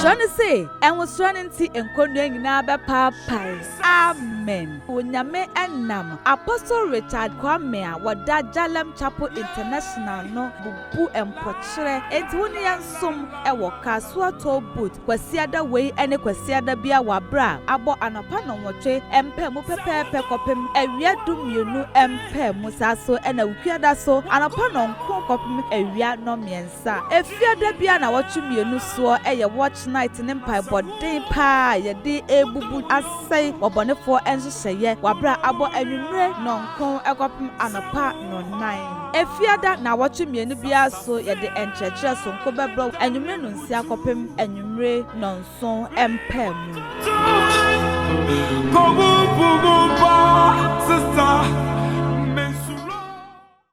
Kyerɛ no se, Ɛnwosoɔ no nti nkɔnnua nyinaa bɛpaapae. Amen. Onyame nam Apostle Richard Kwame a wɔda Jalem Chapel International no bubu mpɔkyerɛ enti wo ne yɛn som wɔ Kasoa Toll Booth Kwasiada wei ne Kwasiada biara wɔ aberɛ a abɔ anɔpa nnɔnwɔtwe mpaamu pɛpɛɛpɛ kɔpem awia dummienu mpaamu saa so na Wukuada so anɔpa nnɔn Ko kɔpem awia nnɔnmiɛnsa. Efiada biara nnawɔtwe mmienu soɔ yɛ watch night ne mpaebɔ den paa a yɛde rebubu asɛe bɔbɔnefoɔ nhyehyɛeɛ wɔ aberɛ a abɔ anwummere nnɔnkron kɔpem anɔpa nnɔnnan. Efiada nnawɔtwe mmienu biara so yɛde nkyerɛkyerɛ sononko bɛbrɛ wɔ anwummere nnɔnsia kɔpem anwummere nnɔnson mpaamu. Ko bubu mpa sister.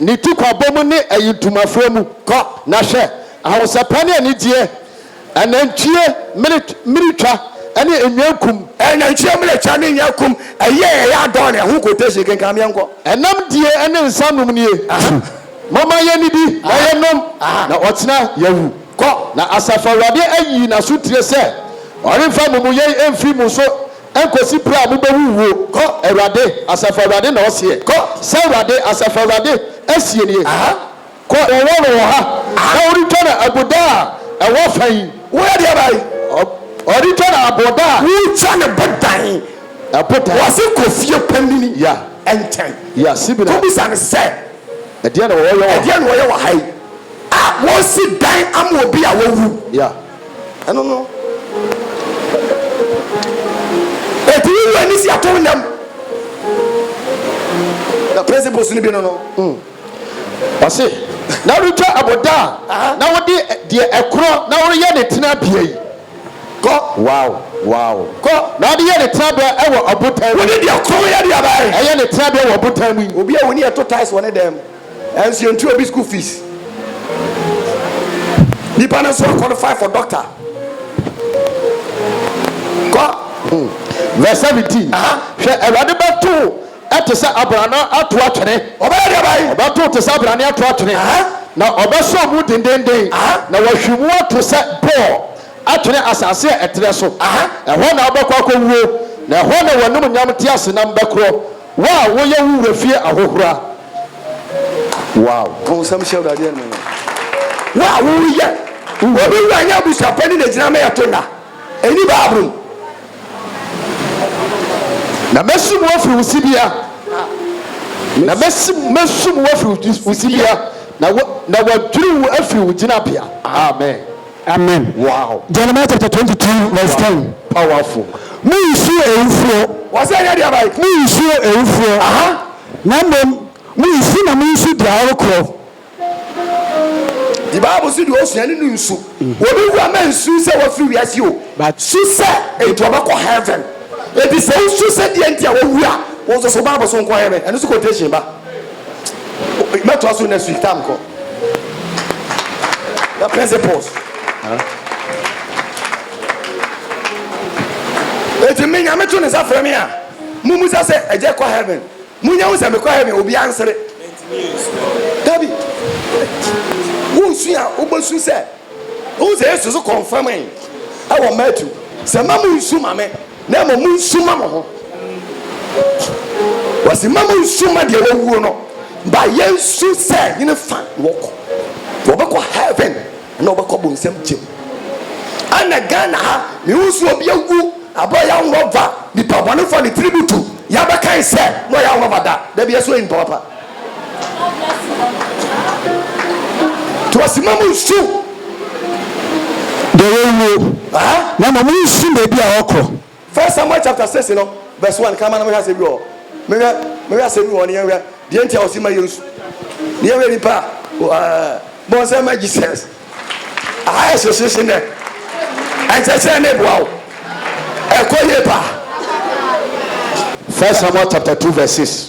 Ne tikwabɔ mu ne ayintumafrɛ mu. Kɔ, na hwɛ, ahosɛpɛ ne anigyeɛ, anantwie mmiritwa ne nnwankum. Anantwie mmiritwa ne nnwankum, ɛyɛ a ɛyɛ adɔn, ɛho quotation, kenkan ma yɛnkɔ. Ɛnam die ne nsa nom nie. Momma yɛnnidi na yɛnnom, na ɔkyena yɛawu. Kɔ, na Asafo Awurade ayi n'asotire sɛ ɔremfa amumuyɛ mfiri mo so. Ɛnkɔsi berɛ a mobɛwu wuo, kɔ, Awurade, Asafo Awurade na ɔseɛ, kɔ, sɛ Awurade, Asafo Awurade, seɛ nie, kɔ, wɔ wɔn wɔ ha, na wɔretwa no abuda a ɛwɔ fa yi. Woyɛ deɛ bɛn? Wɔretwa no aboda a. Wotwa no bodan. Ɛbodan. Wɔse kɔ fie panini. Ya. Nkyɛn. Ya, Sibina. Kɔbisa no sɛ. Ɛdeɛn na wɔyɛ wɔ ha? Ɛdeɛn na wɔyɛ wɔ ha yi? A, wɔresi dan ama obi a wawu. Ya. Ɛno no, ɛtumi wu ani si ato wo nam. Na principles no bi no no. Ɔse, na woretwa aboda a, na wode deɛ ɛkorɔ na woreyɛ ne tenabea yi. Kɔ. Wow, wow. Kɔ. Na wode yɛ ne tenabea ɛwɔ ɔbotan mu. Wode deɛ korɔ yɛ deɛ bɛn? Ɛyɛ ne tenabea wɔ ɔbotan mu yi. Obi a wo ne yɛ to tiles wɔ ne dan mu. Nanso yɛntua obi school fees. Nipa no nso qualify for doctor. Kɔ. Hmm. Verse seventeen. Hwɛ Awurade bɛto ɛte sɛ abrana ato atwene. Ɔbɛyɛ deɛ bayi. Ɔbɛto te sɛ abrane ato atwene. Na ɔbɛsɔ mu dendenden. Na wahwi mu ato sɛ bɔɔ atwene asase a ɛtrɛ so. Ɛhɔ na wobɛkɔ akɔwuo. Na ɛhɔ na w'anum nyam teasenam bɛkorɔ. Wo a woyɛ wo wura fie ahohora. Wow! To nsɛm hyɛ Awurade anuonyam. Wo a woreyɛ wo wura. Obi wura nyɛ abusuapɛ ne n'agyina ma yɛto nna. Ɛnni Bible mu. Na mɛsum wo afiri wo sibea. Na mɛsum, mɛsum wo afiri wo sibea, na wɔadwiri wo afiri wo gyinabea. Amen. Amen wow. Jeremiah chapter twenty two verse ten. Powerful. Mo nsuo ewufoɔ. Wɔ sɛ ɛnyɛ deɛ abae. Mo nsuo ewufoɔ. Aha. Na mmom mo nsu na mo nsu deɛ ɔrekorɔ. The bible si deɛ osua ne no nsu. Obi wu a mɛ nsu sɛ wafiri wiase o. But. Su sɛ enti ɔbɛkɔ heaven. Enti sɛ wosu sɛ deɛ nti a wawu a, wo nso so bible so nkɔ heaven. Ɛno nso quotation ba. Mɛtoa so next week time kɔ. The principles. Eti mi nyame to ne nsa frɛ me a, mo mu sɛ sɛ ɛgye kɔ heaven. Mo nyɛ ho sɛ mekɔ heaven obi ansere. Dabi, wosu a wobɛsu sɛ, wohu sɛ Yesu so kɔnfam yi ɛwɔ Matthew sɛ ma mo nsu ma me Na mmom monsu mma mo ho. Wɔsi mma monsu mma deɛ wawuo no. Ba yɛnsu sɛ hene fa na wɔkɔ. Wɔbɛkɔ heaven na wɔbɛkɔ bonsam gye mu. Ɛna Ghana ha mehu so obi awu abɔ yɛn nwɔva nipa bɔnefoɔ ne tiri butu yɛabɛkan sɛ na ɔyɛ nwɔva da. Dabi ɛso yɛ nipa papa. To ase ma mo nsu. Deɛ wawuo na mmom monsu baabi a ɔkorɔ. First Samuel chapter six no verse one kama na mehwɛ asɛm bi wɔ hɔ mehwɛ mehwɛ asɛm bi wɔ hɔ ne yɛnhwɛ deɛ nti a ɔsi ma yɛnsu ne yɛhwɛ nipa a ɛɛ bɔ nsɛm ma Jesus aha yɛ hyehyehyɛ nɛ ɛnkyɛkyɛ ne boa wo ɛkɔ yie paa. First Samuel chapter two verse six.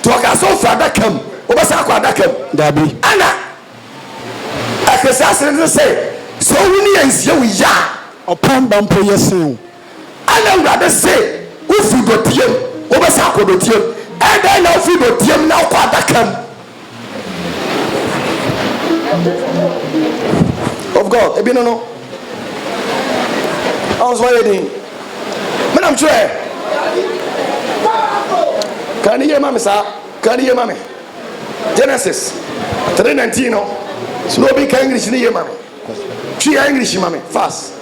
Nti ɔka sɛ ɔfiri adaka mu wobɛsan akɔ adaka mu. Dabi. Ɛna ɛkese asene no sɛ sɛ owu ne yɛ nsie wo yɛ a. Ɔpɔn ba mpo yɛ sen wo. Ɛna Awurade se wofiri dɔteɛ mu wobɛsan akɔ dɔteɛ mu. Ɛdɛn na wofiri dɔteɛ mu na wokɔ adaka mu. of God ebi no no ɔn so ayɛ din menam kyerɛ kaa ne yie ma me saa kaa ne yie ma me Genesis 3:19 no so na obi ka English ne yie ma me twi ya English ma me fast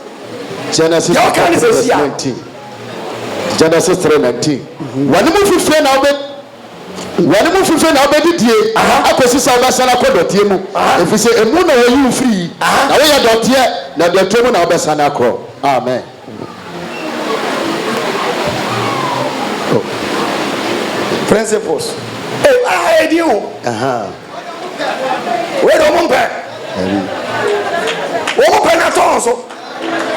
Genesis yɛ ɔka ne sɛ si a Genesis 3:19 wɔn mu fifie na wɔbɛ Wɔne mo fifiri na wobɛdidie akɔsi sɛ wobɛsane akɔ dɔteɛ mu, ɛfiri sɛ emu na wɔyi wo firi, na woyɛ dɔteɛ, na dɔteɛ mu na wobɛsane akorɔ. Amen. Principles. Hey, I had a deal. Uh huh. Wait a moment. Wọ́n pẹ̀ náà tọ̀ ọ̀sọ́.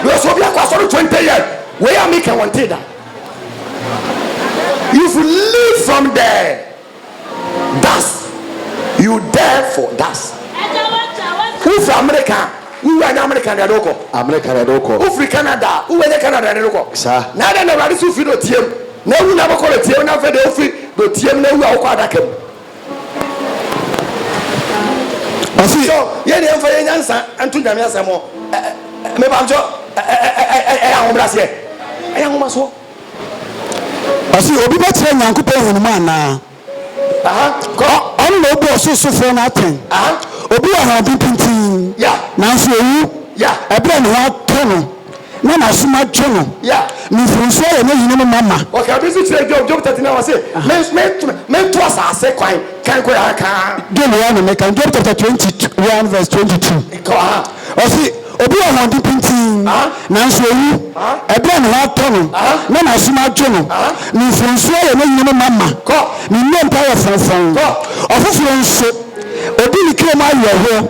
Bí o sọ bí akọ asọ́rọ̀ twenty years, wẹ́yà mi kẹ̀ wọ́n ti dà. You've live from the dust, you die for dust. Wofiri Amerika a, wowura nyɛ Amerika na ɛde wokɔ. Amerika na ɛde wokɔ. Wofiri Canada a, wowura nyɛ Canada na ɛde wokɔ. Sa. Na ɛdɛ na Awurade so firi dɔteɛ mu na awu na abɛkɔ dɔteɛ mu na afei deɛ wofiri dɔteɛ mu na awu a wokɔ adaka mu. Ɔsi yɔ yɛn deɛ nfa yɛn nyansa nto nyame asɛm hɔ meba nkyɛ ɛyɛ ahobraseɛ ɛyɛ ahomasoɔ. Ɔsi obi bɛkyerɛ Nyankopɔn nhunumu anaa? Ɔno na obu ɔsorosofoɔ no atɛn. Obi wɔ ahoɔden pintinn nanso owu ɛberɛ a ne ho atɔ no. Na n'asom atwo no, ne mfomsoɔ yɛ ne yerenom ma ma. Ɔkaa biribi nso kyerɛɛ Job, Job 39, ɔse, Meto asase kwan kan koraa kaa. Deɛ me ara na meka, Job chapter 21 verse 22, ɔse, Obi wɔ ahoɔden pintinn, nanso ɔwu, ɛberɛ a ne ho atɔ no, na n'asom atwo no, ne mfomsoɔ yɛ ne yerenom ma ma, ne nnompa yɛ frɔmfrɔm. Ɔfoforɔ nso, ɔdi ne kra mu awerɛhoɔ.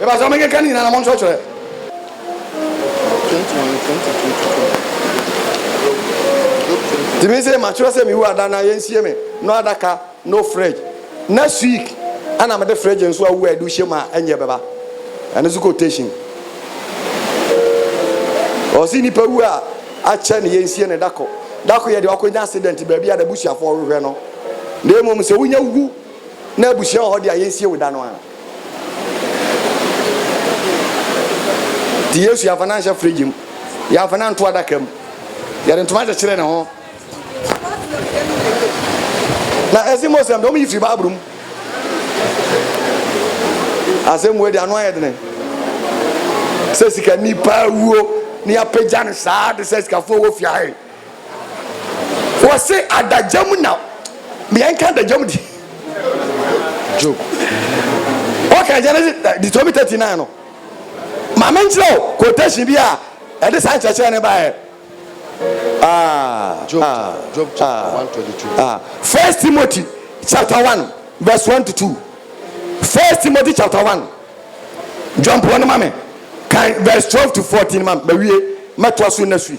Mepakyɛw menkenka ne nyinaa na monkyerɛkyerɛ. Nti me se makyerɛ sɛ mewu ada na yɛnsie me no adaka no fridge. Next week ɛna mede fridge nso awu a yɛde wohyɛ mu a ɛnyɛ bɛba. Ɛno nso quotation. Ɔse nipa wu a akyɛ ne yɛnsie no dako. Dako yɛ deɛ wakɔnya accident baabi a n'abusuafoɔ rehwɛ no. Na mmom sɛ wonya wu na abusua wɔ hɔ deɛ a yɛnsie wo da no ara. nti yesu yɛafa no anhyɛ fridge mu yɛafa no anto adaka mu yɛde ntoma kyekyere ne ho na ɛsi muslim de wɔn yi firi baabulu mu asɛm wei de ano ayɛ dene sɛ sika nipa wuo ne apagya no saa de sɛ sikafoɔ wɔ fiae Wɔse adagya mu na mea nka adagya mu di. Job. Wɔka Genesis Deuteronomy thirty nine no. Maame nkyerɛ o quotation bi a ɛde saa nkyerɛkyerɛ ne baeɛ. Ah, Job, ah, Job ah, chapter ah, one twenty two. Ah, First Timothy chapter one verse one to two. First Timothy chapter one. Jɔnpɔn no ma me kan verse twelve to fourteen ma me bɛwie mɛtoa so na sui.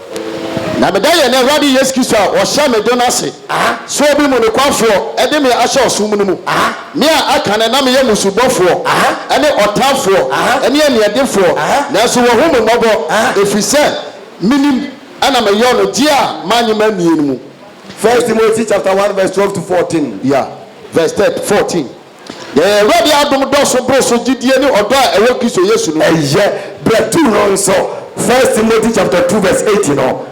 Na meda yɛn Awurade Yesu Kristo a ɔhyɛ me dɔ no ase sɛ obi mu nokwafoɔ de me ahyɛ ɔsom no mu, me a aka no na meyɛ mmusubɔfoɔ ne ɔtaafoɔ ne aniɛdefoɔ, nanso wahu me mmɔbɔ, ɛfiri sɛ menim na meyɔɔ no deɛ a mannye mannie no mu. First Timothy chapter one verse twelve to fourteen. Yeah, verse third fourteen. Yɛn Awurade adom dɔɔso boro so gyidie ne ɔdɔ a ɛwɔ Kristo Yesu no mu. Ɛyɛ berɛ tu no nso, First Timothy chapter two verse eight no.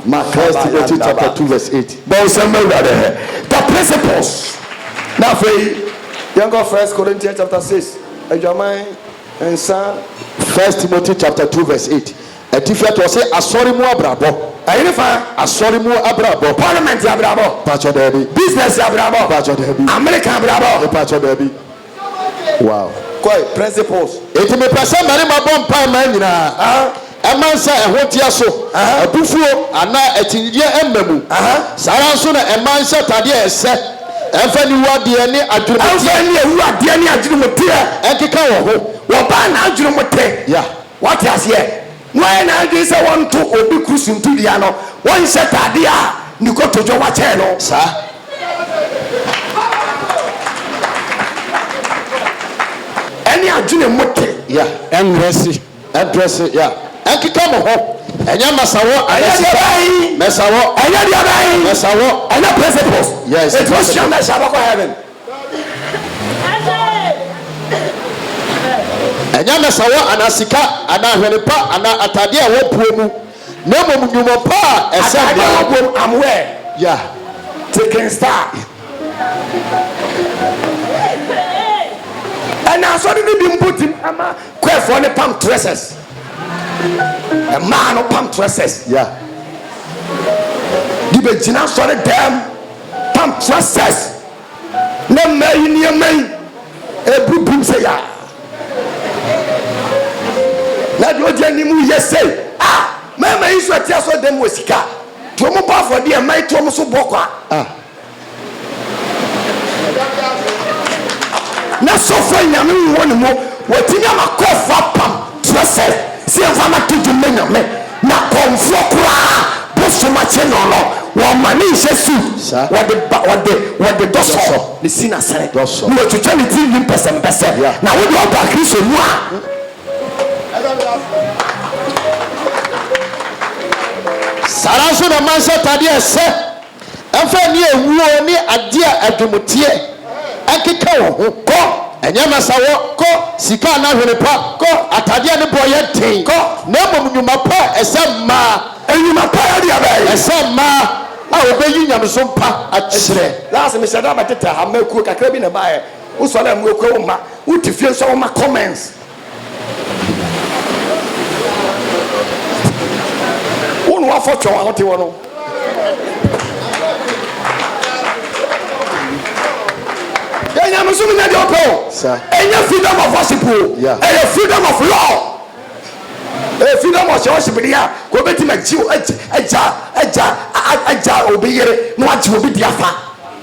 Ma First Timothy chapter two verse eight. Bɔ nsɛm ma Awurade hɛ. The principles. Na afei yɛnkɔ First Corinthians chapter six, adwaman nsa. First Timothy chapter two verse eight. Ɛtifɛ to ɔse asɔre mu abrabɔ. Ɛyere fa. Asɔre mu abrabɔ. Parliament abrabɔ. Mpakyɛ daabi. Business abrabɔ. Mpakyɛ daabi. America abrabɔ. Mpakyɛ daabi. Wow. Kɔe, principles. Enti mepɛ sɛ mmarima bɔ mpae mmaa nyinaa. Ɛmma nsa a ɛho teɛ so, abufuo, anaa akyinnyegyeɛ mma mu. Saa ara nso na mmaa nhyɛ atadeɛ a ɛsɛ, ɛmfa nni wu adeɛ ne adwenemuteɛ. Ɛmfa nni awu adeɛ ne adwenemuteɛ. Ɛnkeka wɔn ho. Wɔbaa n'adwenemuteɛ. Yeah. Wɔte aseɛ? Wɔayɛ n'adwene sɛ wɔnto obi koro suntudua no, wɔnhyɛ taadeɛ a ne kotodwe wɔ kyɛn no. Saa. Ɛne adwene mo te. Yeah. Ɛndrɛse, ɛndrɛse, yeah. Ɛnkeka mo ho. Ɛnyɛ masawɔ anaa sika. Ɛnyɛ deɛ bɛn. Mɛsawɔ. Ɛnyɛ deɛ bɛn. Mɛsawɔ. Ɛnyɛ principles. Yes. Ɛti wɔhyia mɛhyɛ abɛkɔ heaven. Ɛnyɛ adasawɔ anaa sika anaa ahwene pa anaa atade a wɔapuo mu, na mmom nnwuma pa a ɛsɛ Atade a wɔapuo mu, I'm wear. Yeah. Ticking star. Ɛna asɔre no bi mpo tumi ama kwɛrfoɔ no pam tresses. Mmaa no pam tresses. Yeah. De bɛgyina asɔre dɛm. Pantokrases na mmaa yi nneɛma yi ɛbu bim sɛ yaa na deɛ ɔdi anim yɛ sei a mmarima yi nso ɛte asɔ dɛm wɔ sika deɛ ɔmo bɔ afɔdeɛ mmaa yi to ɔmo so bɔ kwa na sɔfo nyame wɔ ne mu wɔtumi ama kɔɔfo apam trɛsɛ sɛ yɛmfa no ato dwom na nyame Na kɔmfoɔ koraa bosom akye no no, wɔma no nhyɛ suu, wɔde ba, wɔde, wɔde dɔsɔ no si n'asene, na wɔtwitwa ne tirinwi mpɛsɛmpɛsɛ. Na wo deɛ, woba Kristo mu a. Saa ara nso na mansɛ atadeɛ a ɛsɛ. Ɛmfa nni awuo ne adeɛ a adwomteɛ ɛkeka wɔ ho kɔ, ɛnyɛ masawɔ kɔ, sika anaa hwene pa kɔ, atadeɛ a ne boɔ yɛ den kɔ, na mmom nnwuma pa a ɛsɛ mmaa. Nnwuma pa yɛ deɛ bɛn? Ɛsɛ mmaa a wɔbɛyi nyamesom pa akyerɛ. Enti, last mehyɛ da bɛtetɛ ha, mma akuo kakra bi na ɛbaeɛ. Wosɔre a, mma akuo wo mma. Wote fie nso a, womma comments. wo na wafɔ twɛw a wote hɔ no yɛ nyamesom nyɛ deɛ ɔpɛ o ɛnyɛ freedom of worship o ɛyɛ freedom of law ɛyɛ freedom of worship deɛ a kò bɛtumi agye agya agya agya obi yere na wagye obi di afa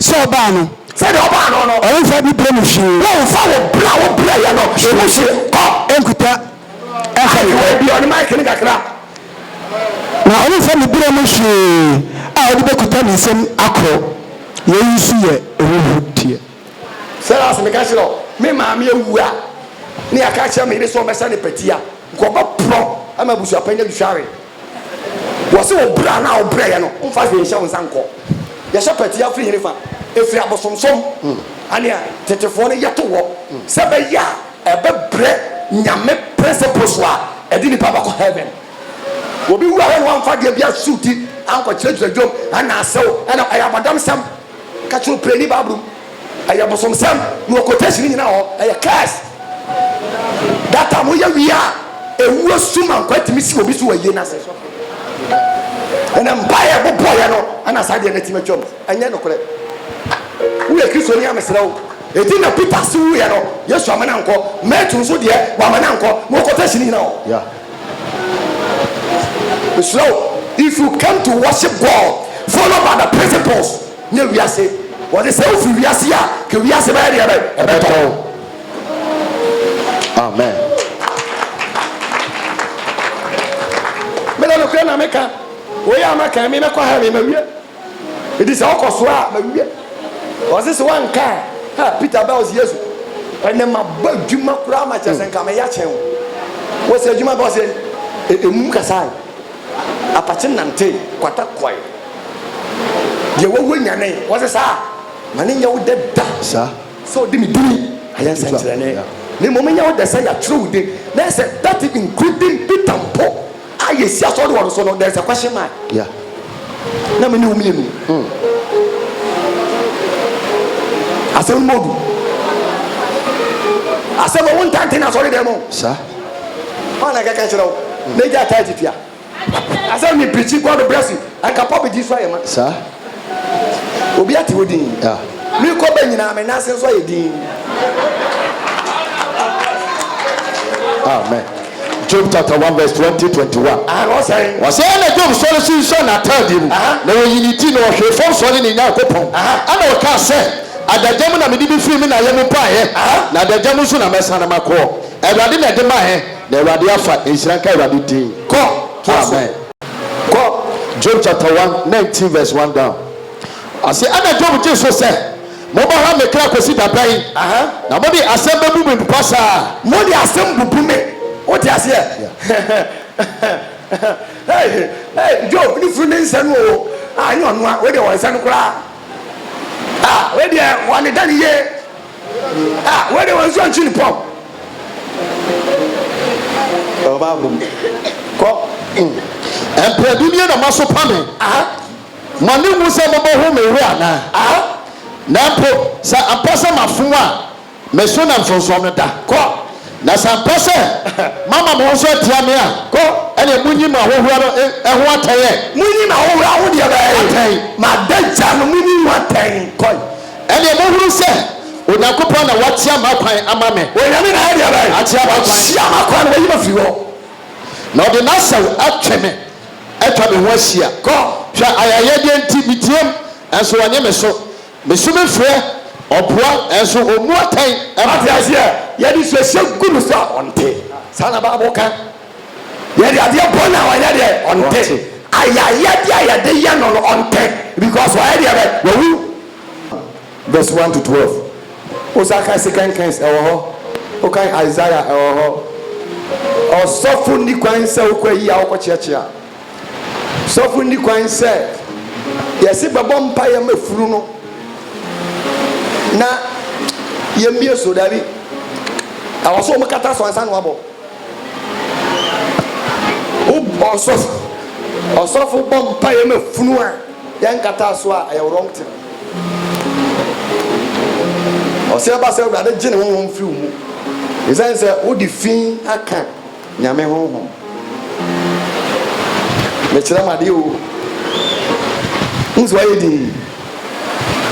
Sɛ ɔbaa no. Sɛdeɛ ɔbaa no no. Ɔremfa ne berɛ mu hwee. Ɔremfa wo berɛ a wobrɛeɛ no mu hwee. Kɔ. Nkuta mfa ne ho. Ayi w'aduane mic no kakra. Na ɔremfa ne berɛ mu hwee a ɔde bɛkuta ne nsam akorɔ. Yei nso yɛ ahuhudeɛ. Sarah se, Meka kyerɛɛ wo, me maame awu a na yɛaka akyerɛ me yere sɛ ɔmmɛsɛ no patia, nka ɔbɛporɔ ama abusuapɛn no adwitwa we. Wɔse wo bra no a wo brɛeɛ no womfa hwee nhyɛ wo nsa nkɔ. Yɛhyɛ pɛtee afiri hene fa ɛfiri abosomsom anea tetefoɔ no yɛto hɔ sɛ ɛbɛyɛ a ɛbɛbrɛ Nyame principles a ɛde nipa bɛkɔ heaven. Obi wu a wɔne wamfa adeɛ biara suuti ankɔkyerɛkyerɛ dwom anaa asew ɛna ɛyɛ abɔdamsɛm. Ka kyerɛ opiani bible mu ɛyɛ bosomsɛm na wɔ quotation nyina wɔ hɔ ɛyɛ curse that time woyɛ wie a ɛwuo sum ankɔ atumi si obi so wɔ ayie no ase ɛna mpa yɛ bobɔyɛ no ɛna saa deɛ no atumi atwam ɛnyɛ nokorɛ woyɛ kristo ni amesrɛ wo ɛti na peter se wuyɛ no yesu amana nkɔ mɛtu nso deɛ wamana nkɔ na wɔ quotation nyina wɔ yeah. Mesrɛ wo, if you came to worship God, follow by the principles. Nyɛ wiase. Wɔde sɛ wofi wiase a, ka wiase bɛyɛ deɛ bɛn? Ɛbɛtɔ wo. Amen. Mede nokorɛ na meka. Wei a maka yi, mebɛkɔ heaven mawie. Enti sɛ ɔkɔ so a, mawie. Ɔse sɛ wanka a, ha, Peter baa ɔse, Yesu, ɛnɛ mabɔ adwuma koraa ma kyerɛ sɛ nka meyɛ akyɛn wo. Wɔse adwuma bɛ ɔse, e, emum kasae, apakye nantee, kwata kɔe, deɛ wawu nyanee. Wɔse saa a, ma ne nyɛ wo dɛ da sɛ ɔde me dini ayɛ nsɛnkyerɛnne, na mmom nyɛ wo dɛ sɛ yɛatwerɛ wo din, na ɛsɛ that including Peter mpo. a yɛsi asɔre wɔ no so no there is a question mark yeah. na me ne wo mmienu mm. asɛm no mɔdu asɛm a wontante no asɔre dɛ mu saa ɔna kɛkɛ kyerɛ wo na gya taa titia asɛm ne pirikyi god bless you anka pɔbedi so ayɛ ma saa Obi ate wo din. Me kɔ bɛ nyinaa me nan ase nso ayɛ din. Amen. Job chapter one verse twenty twenty one. Aha na ɔsɛn. Ɔsɛn na Job sɔre sunsuan n'ataadeɛ mu, na ɔyi ne ti, na ɔhwee fam sɔre ne Nyankopɔn, ɛna ɔkaa sɛ, Adagya mu na mede bi firi me na yɛ mu baeɛ, na adagya mu nso na mɛsane makɔ. Awurade na ɛde maeɛ, na Awurade afa. Nhyira nka Awurade din. Amen. Kɔ Job chapter one nineteen verse one down. Ɔse, ɛna Job gye so sɛ, Mobɛha me kra kosi da bɛn, na mode asɛm bebu me mpɔ saa? Mode asɛm bubu me, wote aseɛ? Hey, hey, Job ne funu ne nsa no o, ah, ɛnyɛ ɔnoa, wei deɛ wɔn nsa no koraa, ah, wei deɛ wɔn ne da ne yie, Ah, wei de wɔn nso nkyi ne pɔw. Ɔba abom. Kɔ. Mm. Ɛmpɛ bi nie na moasopa me. Aha. Mo ani nwu sɛ mobɛhu me werɛ anaa? Aha. Na mpo sɛ ampa sɛ mafom a, me so na nsonsonoɔ no da. Kɔ. Na sɛ ampa sɛ moama mo ho so atia me a, Kɔ. ɛneɛ monyi m'ahohora no eh, ho atɛn ɛ. Monyi m'ahohora ho deɛ bɛn? Atɛn. M'adagya no, monyi ho atɛn. Kɔ. Ɛnneɛ mohunu sɛ Onyankopɔn na wakyea m'akwan ama me. Onyame na ayɛ deɛ bɛn? Akyea m'akwan. Akyea m'akwan na wayi me afiri hɔ. Na ɔde n'asau atwe me, atwa me ho ahyia. Kɔ. Hwɛ, ayayɛdeɛ nti meteam, nanso wannye me so. Mesu mefrɛ, ɔboa, nanso ɔmmu atɛn mma. Wate aseɛ? Yɛde suasua gu no so a, ɔnte. Saa na Bible ka. Yɛde adeɛ bɔ no a ɔnyɛ deɛ? Ɔnte. Ayayɛdeɛ a yɛde yɛ no no ɔnte because wayɛ deɛ bɛn? Wawu. Verse one to twelve. Wosan kan Second Kings ɛwɔ hɔ, wokan Isaiah ɛwɔ hɔ. Ɔsɔfo nni kwan sɛ wokɔ ayi a wokɔ kyeakyea. Sɔfo nni kwan sɛ yɛse bɛbɔ mpaeɛ ma funu no na yɛmmie so. Daabi. Ɛwɔ so wɔkata so ansa na wabɔ. Wobɔ ɔsɔfo bɔ mpaeɛ ma funu a yɛnkataa so a ɛyɛ wrong thing. Ɔsɛ ɛba sɛ Awurade gye ne honhom firi wo mu ɛsiane sɛ wode fi aka Nyame honhom. Mekyerɛ mo adeɛ o. Wohu sɛ wayɛ din?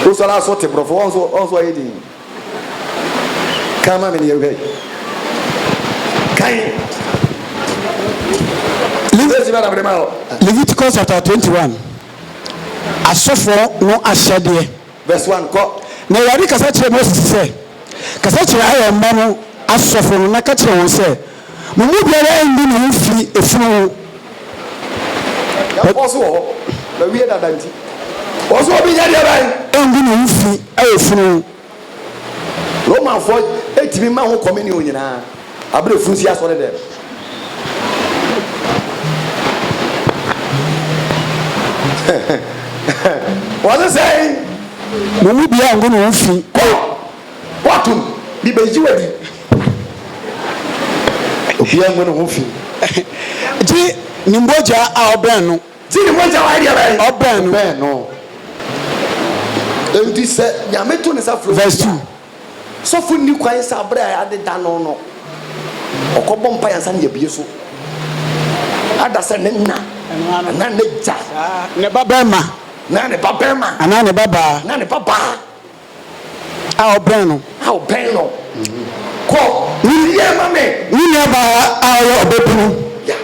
Wosɔre a so te borɔfo? Wohu sɛ wayɛ din? Kan ma me ne yɛhwɛ. Kan. Leviticus bɛ na mede ma o. Leviticus chapter twenty one. Asɔfoɔ no ahyɛdeɛ. Verse one kɔ. Na Awurade kasa kyerɛɛ Moses sɛ, Kasa kyerɛ Aaron mma no asɔfoɔ no na ka kyerɛ wɔn sɛ. Mo mu biara nyi ne ho mfiri efunu ho. Nyankopɔn so wɔ hɔ, na wie dada nti, ɔso obi nyɛ deɛ bɛn? Ɔnyi ne ho mfiri wɔ funu ho. Romanfoɔ tumi ma ho communion nyinaa abere efunu si asɔre dɛm. Wɔse sɛn? Mo mu biara nyi ne ho mfiri. Woato no, mibegye wo adi. Obiara ngu ne ho fi. Gye ne mogya a ɔbɛn no. Gye ne mogya a wayɛ deɛ bɛn. Ɔbɛn no. Ɔbɛn no. Enti sɛ Nyame to ne nsa frɛ obi a, sɔfo nni kwan sɛ abere a yɛadeda no no, ɔkɔbɔ mpaeɛ ansa na yɛabue so ada sɛ ne na anaa n'agya. Ne babarima. Anaa ne babaa. Anaa ne babaa. Anaa ne babaa. a ɔbɛn no. A ɔbɛn no. Kɔ wiye ma me. Ne nuabaa a ɔyɛ ɔbabunu. Ya.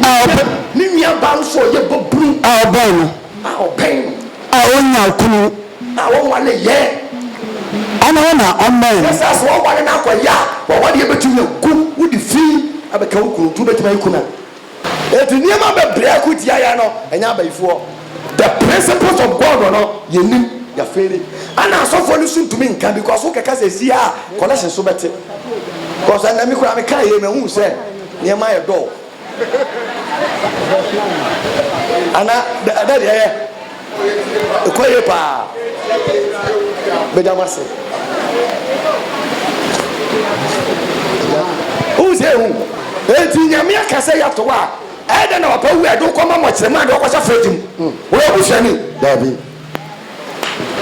A ɔbɛ. Ne nuabaa nso ɔyɛ babunu. A ɔbɛn no. A ɔbɛn no. A ɔnya okunu. A ɔnwa ne yɛ. Ɔno hɔ na ɔmmɛn. Yɛ saa sɛ wɔware no akɔ yɛ a, wɔware yɛ bɛtumi agu, wode fi abɛka wo kunu nti wobɛtumi ayi kunu a. Enti nneɛma bebree ko tia yɛn no, ɛnyɛ abayifoɔ. The principles of God no yɛnim, yɛafeeli. Ɛna asɔfoɔ no nso ntumi nka because wokɛka sɛ ɛsi ha a, connection nso bɛte. Because ɛnnɛ me koraa mekaa yei mahunu sɛ nneɛma yɛ dɔɔ. Anaa, ɛdɛ deɛ ɛyɛ. Ɛkɔ yie paa. Meda mo ase. Wohu sɛ ehu. Enti Nyame aka sɛ yɛato wo a, ɛyɛ dɛn na wapɛ wo yɛ de wo kɔma mmɔkyerɛma de wɔkɔhyɛ fridge mu? Hmm. Woyɛ busuani? Daabi.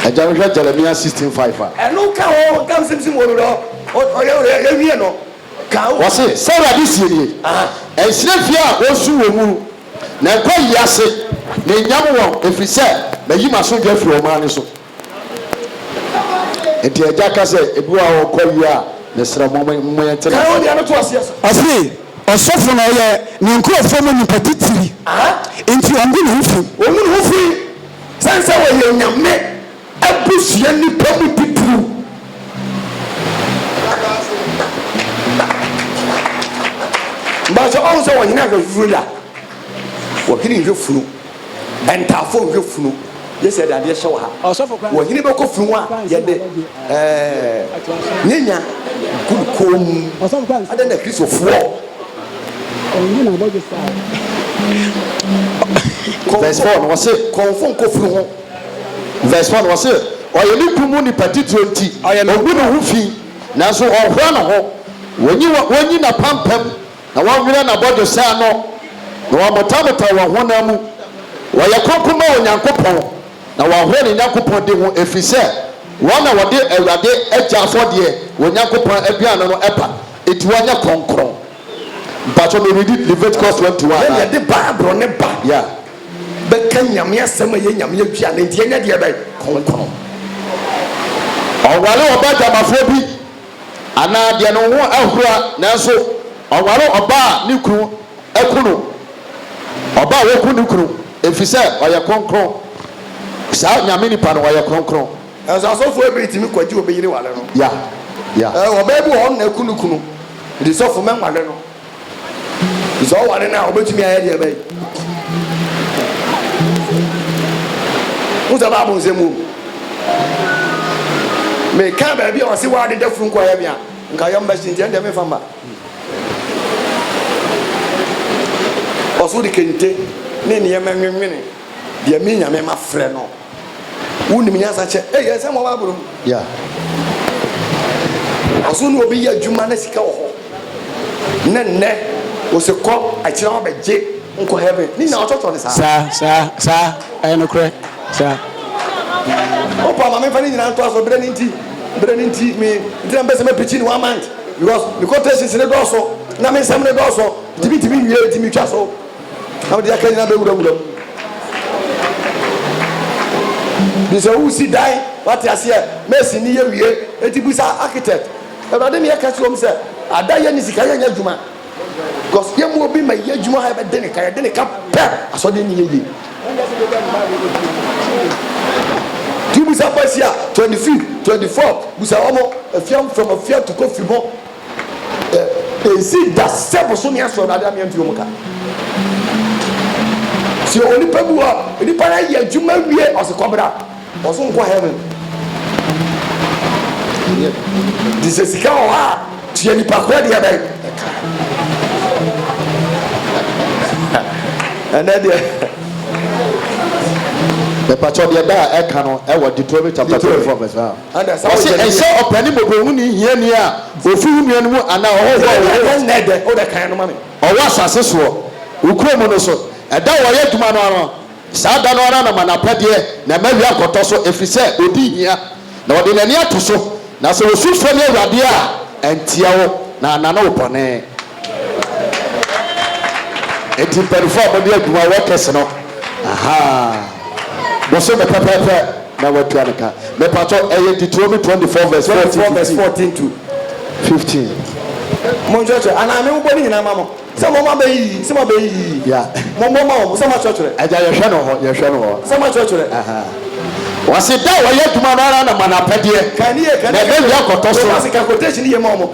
Agya wohwɛ Jeremiah sixteen five a. Ɛno ka ho ntam simsim wɔ no dɔ. Ɔyɛ ɔyɛ yɛwie no. Ka ho. Wɔse sɛ Awurade sie nie. Ɛnhyerɛ fie a wɔsu wɔ mu. Na nkwa yi ase, mennyam wɔn, ɛfiri sɛ mayi m'asomdwoeɛ afiri ɔman no so. Enti agya ka sɛ, Ebi wɔ ha a wɔkɔ wie a, mesrɛ mo, moyɛnte no ase. Ɔse, Ɔsɔfo no, ɔyɛ ne nkurɔfoɔ mu nipa titiri, enti ɔngu ne ho fi. Ɔngu ne ho fi, sane sɛ ɔyɛ Onyame. Abusua nnipa mu titiriw ba sɛ ɔhu sɛ ɔhene ahwɛ funu da, ɔhene nhwɛ funu, ntaafo nhwɛ funu, yɛ sɛ yɛde adeɛ hyɛ wɔ ha, ɔhene bɛkɔ funu ho a yɛde ɛɛ nyanya gu ne kɔn mu. Adɛn na Kristofoɔ kɔnfo nkɔ funu ho? Verse one, wɔse, Ɔyɛ ne kuw mu nipa titire nti, ɔngu ne ho fi, nanso ɔnhoa ne ho, wonyi wonyi n'apampam na wɔnwerɛ n'abɔdwesɛ ano, na wɔamotamotaw wɔn honam mu. Wɔyɛ kronkron ma Onyankopɔn, na wɔhoa ne Nyankopɔn din ho, ɛfiri sɛ wɔn na wɔde Awurade agya afɔdeɛ, wɔn Nyankopɔn aduane no ba, enti wɔnyɛ kronkron. Mpakyɛw me readi Leviticus twenty one. Yɛde Bible no ba bɛka Nyame asɛm a ɛyɛ Nyame aduane nti ɛnyɛ deɛ bɛn? Kronkron. Ɔware ɔba dwamafoɔ bi anaa deɛ ne ho ahura nanso ɔware ɔba a ne kunu aku no, ɔba a waku ne kunu, ɛfiri sɛ ɔyɛ kronkron. Saa Nyame nipa no ɔyɛ kronkron. Nanso asɔfoɔ ɛberɛ tumi kɔgye obi yere ware no. Yeah, yeah. Ɔbaa bi wɔ hɔ no na aku ne kunu, nti sɔfo mɛnware no. Sɛ ɔware no a, obetumi ayɛ deɛ bɛyɛ. Wosɛ Bible nsɛm wom. Meka baabi a ɔse w'ade da funu kɔyɛ me a, nka yɛn mba si nti ɛndeɛ menfa mma. Ɔso de kente ne nneɛma nwenwene deɛ me Nyame mafrɛ no. Wonim nyansa kyɛ. Ei, ɛnsɛ mmɔ Bible o. Yeah. Ɔso na obi yɛ adwuma na sika wɔ hɔ. Ne nnɛ, ose kɔ akyire hɔ bɛgye nkɔ heaven. Ne nyinaa ɔtɔtɔ ne saa. Saa, saa, saa. Ɛyɛ nokorɛ. Saa. O pa, ma memfa ne nyinaa nto aso. Berɛ no nti, berɛ no nti, me, nti na mpɛ sɛ mɛpikyi ne one month. Because me quotations no dɔɔso, na me nsɛm no dɔɔso, nti mentumi nwie, nti metwa so. na wode akanyan abɛwura wura mu bi sɛ wosi dan wate aseɛ mɛsi ne yɛ wie eti bisa architect awurade ne yɛka kyerɛ m sɛ ada yɛ ne sika yɛnyɛ adwuma because yɛ mu obi ma yɛ adwuma ha yɛbɛde ne ka yɛde ne ka pɛ asɔde ne yɛ yie ti bisa fɔ asia twenty fifth twenty fourth bisa wɔn afia fam afia tukɔ fi mu Ensi da sɛ bosome aso Awurade amea ntuo mu ka. Sɛ onipa bi hɔ, onipa no ayɛ adwuma wie ɔse kɔbra, ɔso nkɔ heaven. Nti sɛ sika wɔ hɔ a, tua nipa korɔ deɛ bɛn. Ɛnɛ deɛ. Mepatɔ deɛ da a ɛka no ɛwɔ Deuteronomy chapter 24 verse 1. Ɔse ɛnhyɛ ɔpani mmɔborɔhuni hiani a ofi wo nua no mu anaa ɔhɔhoɔ a ɔwɔ ɔwɔ asase soɔ wo kuro mu no so ɛda a wɔyɛ adwuma no ano saa da no ara na ma n'apɛdeɛ na mma awia nkɔtɔ so ɛfiri sɛ ɔdi hia na ɔde n'ani ato so na sɛ ɔsu frɛ me awurade a ɛnteɛ wo na anane wo bɔne. Enti mpanyinfoɔ a mode adwuma wɔ kɛse no ahaa Bɔsome no pɛpɛɛpɛ na watua ne ka Mepakyɛw ɛyɛ Deuteronomy 24 vs 14 vs 14 to 15 Monkyerɛkyerɛ anaa menbobɔ ne nyinaa ma mo sɛ mommɔ bɛ yi sɛ moabɛ yi yi Mommɔ ma wɔn sɛ moakyerɛkyerɛ. Agya yɛhwɛ no hɔ yɛhwɛ no hɔ. Sɛ moakyerɛkyerɛ. Wɔse da a wɔyɛ adwuma no ara na ma no apɛdeɛ na ɛbɛwie akɔtɔ so. Mebɔ ase ka quotation yie ma wɔn.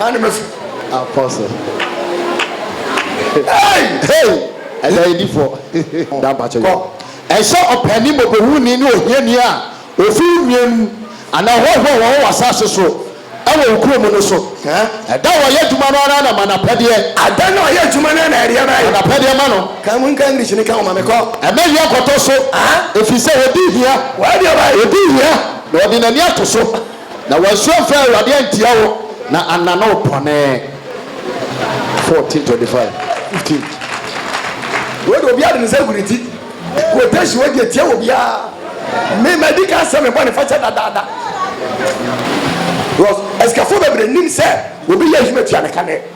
Ɛne me so. Apɔso. Hey! Hey! Ɛda edi fɔ. Da mpakyɛ yɛ. Ɛnhyɛ ɔpɛni mmɔbɔhuni ne ohiani a ofi wo nua no mu anaa hɔhoɔ a wɔwɔ w'asase so wɔ wo kurom no so. Ɛda a ɔyɛ adwuma no ara na ma n'apɛdeɛ. Ada no a ɔyɛ adwuma no ara na ɛdeɛ no ayɛ. Ma n'apɛdeɛ ma no. Ka mu nka English no ka ho ma me. Kɔ. Ɛmɛ hia nkɔtɔ so. Ɛfiri sɛ ɔdi hia. W'adeɛ ɔbaeɛ. Ɔdi hia na ɔde n'ani ato so. Na wansu amfrɛ Awurade antia wo na annane wo bɔne. 14 25 15 Wei de obiara de ne nsa gu ne ti. Quotation, Wei deɛ tia obiara. Me madi kan sɛ me bɔne fakyɛ dadaada. Because asikafoɔ bebree nim sɛ obi yɛ adwuma tua ne ka nɛ.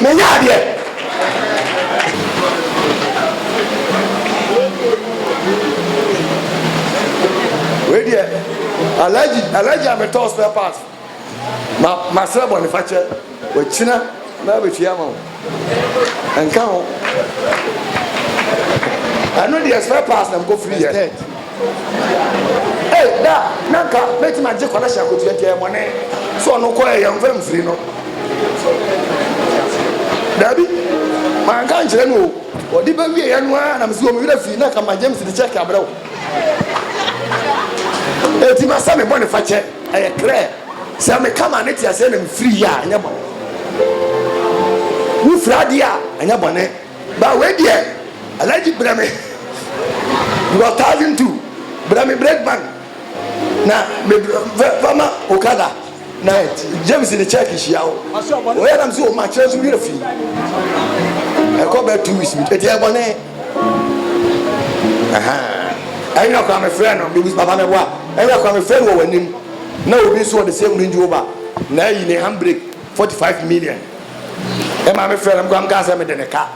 Menya adeɛ. Wei deɛ alaji alaji a metɔ spare part ma masrɛ bɔnefakyɛ wakyina na abɛtua ama wo ɛnka ho ɛno deɛ spare part na mekɔfiri yɛ. Ei da na nka mɛtumi agye kɔlɛhye akotua nti ɛyɛ bɔne sɛ ɔno kɔ ɛ yɛmfa mfiri no daabi manka nkyerɛ no o ɔde bɛwieɛ no ara na mesi wɔ me werɛ fii na ka ma James de kyɛke abrɛ wo ɛti masɛ me bɔne fa kyɛ ɛyɛ krɛ sɛ meka ma ne te aseɛ na mefiri yɛ a ɛnyɛ bɔne wofiri adeɛ a ɛnyɛ bɔne Ba wei deɛ Alhaji brɛ me wɔ thousand two brɛ me break bank na me fɛ fa ma okada na James ne check hyia wo oyɛ nam so ma kyerɛ so werɛ fi ɛkɔ bɛ two weeks bi eti ɛbɔ ne ɛnyɛ ɔkɔ a me frɛ no bibi papa me boa ɛnyɛ ɔkɔ a me frɛ no wɔ w'anim na obi nso wɔ the same range rover na ayi ne handbrake. Forty five million me maame frɛ no me koraa me kaa sɛ me de ne ka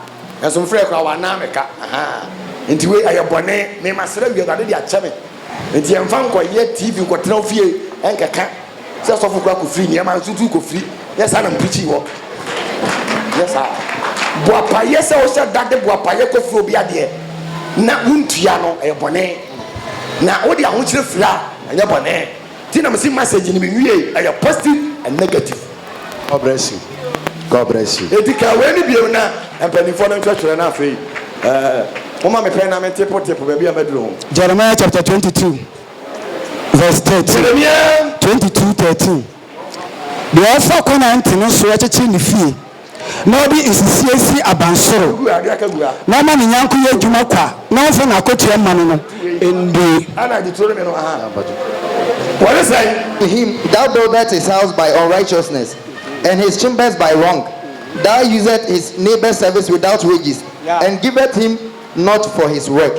nso me frɛ koraa wanan me ka ahaa nti wei ɛyɛ bɔne me ma srɛ wie awurade de akyɛ me nti yɛn fa nkɔ yɛ tv nkɔ tena ofie ɛnkɛka sɛ sɔfo koraa kɔ firi nneɛma nso tu kɔ firi yɛ saa na me pirikyi wɔ yɛ saa boapayɛ sɛ ɔhyɛ da de boapayɛ kɔ firi obi adeɛ na wontua no ɛyɛ bɔne na wode ahokyerɛ firi a ɛnyɛ bɔne Nti na mese message no mewiei ɛyɛ positive and negative. God bless you God bless you. Enti kaa wei no bio na mpaninfoɔ no nhwɛ twerɛ no afei ɛɛ moma me pɛn na me tepo tepo baabi a maduru ho. Jeremiah chapter twenty two verse thirteen Jeremia. twenty two thirteen Deɛ ɔfa kwan a ɛntene soɔ kyekyere ne fie. na ɔde nsisie si abansoro, na ɔma ne nyɛnko yɛ adwuma kwa, na ɔmfa n'akokyɛm mma no no, ɛnde. Him, Thou buildest his house by unrighteousness, and his chambers by wrong, thou usest his neighbour's service without wages, and givest him nought for his work.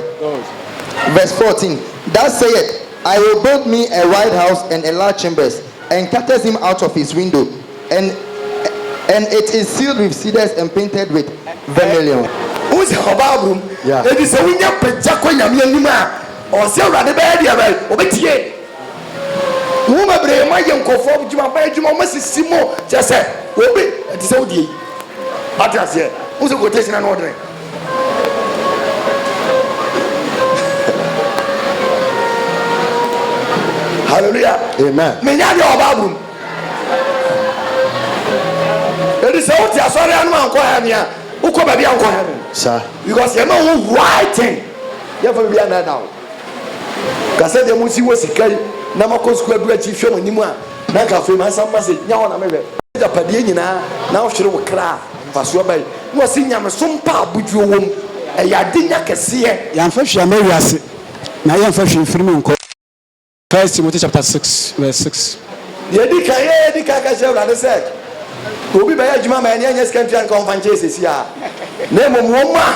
Verse fourteen, Thou saidst, I will build me a wide house and enlarge chambers, and castest him out of his window, And and it is sealed with cedars and painted with vermilion. Wohu sɛ ɔbaa aburo mu. Yeah. Enti sɛ wonya pagya kɔ Nyame anim a, ɔse Awurade bɛyɛ deɛ bɛn? Ɔbɛtie. Wo bebree mo ayɛ nkurɔfoɔ adwuma, mo ayɛ adwuma, wɔn asisi mo, kyerɛ sɛ obi ɛte sɛ wodie yi. Ate aseɛ? Wohu sɛ quotation ano ɔdene. Hallelujah. Amen. Menya deɛ ɔbaa aburo mu. Eti sɛ wote asɔre anom a nkɔ heaven a, wokɔ baabi a nkɔ heaven. Sa. Because yɛma wo right thing. Yɛmfa biribi anna da wo. Kasa deɛ mo nsi wɔ sika yi na makɔ sukuu adu akyi hwɛ mo anim a na nka afei mansa mma se nya hɔ na mehwɛ. Agyapadeɛ nyinaa na wohwere wo kra a mfasoɔ bɛn na ɔse nyamesom pɛ a abodwoɔ wɔ mu. Ɛyɛ adenya kɛseɛ. Yɛamfa hwee amma wiase na yɛmfa hwee mfiri mu nkɔ. First Timothy chapter six verse six. Deɛ ɛdi kan yɛ ɛdi kan ka kyerɛ Awurade sɛ obi bɛyɛ adwuma ma ɛne ɛnyɛ sika ntua nka ɔmfa nkyɛn sɛsi a na mmom wɔn a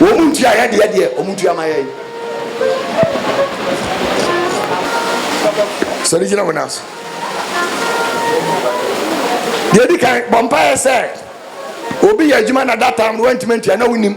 wɔn ntua yɛ deɛ deɛ wɔn ntua ma yɛn sɔre gyina wɔn aso deɛ ɛdi kan bɔ mpaeɛ sɛ obi yɛ adwuma na data wɔntumi ntua na wonim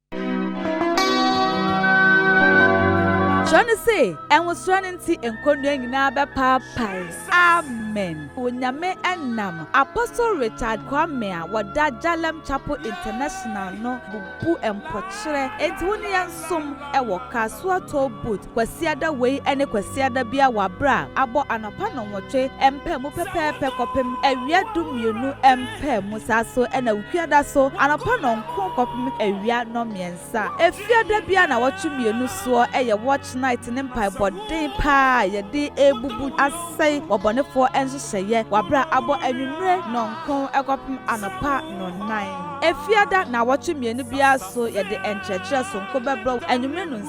Kyerɛ no se, Ɛnwosoɔ no nti nkɔnnua nyinaa bɛpaapae. Amen. Onyame nam Apostle Richard Kwame a wɔda Jalem Chapel International no bubu mpɔkyerɛ nti wo ne yɛn nsom wɔ Kasoa Toll Booth Kwasiada wei ne Kwasiada bia wabra abɔ anɔpa nɔnwɔtwe mpaa mu pɛpɛɛpɛ kɔpem awia du mmienu mpaa mu saa so na Wukuada so anɔpa nɔnko kɔpem awia nɔmmiɛnsa. Efiada bia nawɔtwe mmienu soɔ yɛ watch night ne mpaebɔ den paa a yɛde rebubu asɛe ɔbɔnefoɔ nhyehyɛeɛ wabra abɔ anwummire nɔnko kɔpem anɔpa nɔnnan. Efiada nawɔtwe mmienu biara so yɛde nkyerɛkyerɛ sonko bɛbrɛ wo anwummire nonsia.